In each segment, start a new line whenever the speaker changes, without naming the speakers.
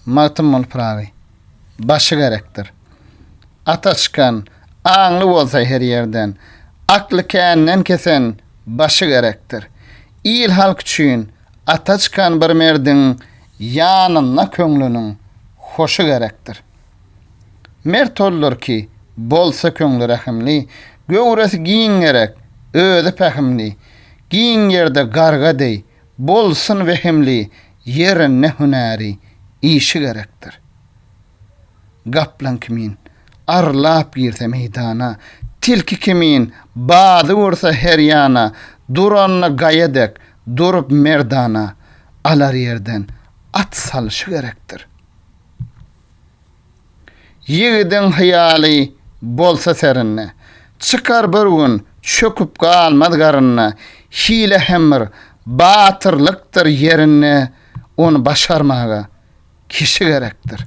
Magtymguly Pyragy. Başy gerekdir. Ata çykan, aňly bolsa her ýerden, Akly känden kesen, başy gerekdir. Il-halk üçin ata çykan bir merdiň Ýanynda köňlüniň hoşy gerekdir. Mert oldur ki, bolsa köňli rehimli, Göwresi giň gerek, özi pähimli, Giň ýerde garga deý, Bolsun wehimli ýerinde hünäri işi gerekdir. Gaplan kimin arlap girse meýdana, tilki kimin bady ursa her ýana, duranda gaýa dek durup merdana, alar ýerden at salşy gerekdir. Ýigidiň hyýaly bolsa serinde. Çykar bir gün, çöküp galmaz garynda. Hile hem bir batyrlykdyr ýerinde, ony başarmaga kişi gerekdir.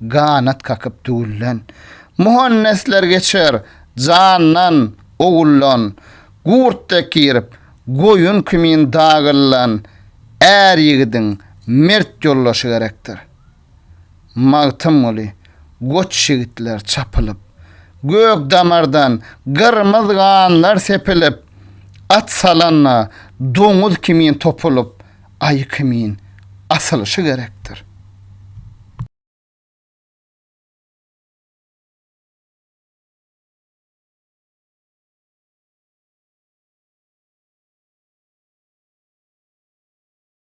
Ganat kakyp düwülen. Muhannesler geçer jandan, oguldan, Gurt dek girip, goýun kimin dagylylan Är ýigidiň mert ýoldaşy gerekdir. Magtymguly, Goç ýigitler çapylyp. Gök damardan gyrmyz ganlar sepilip, At salanda, doňuz kimin topulyp, Aý kimin asylyşy gerekdir.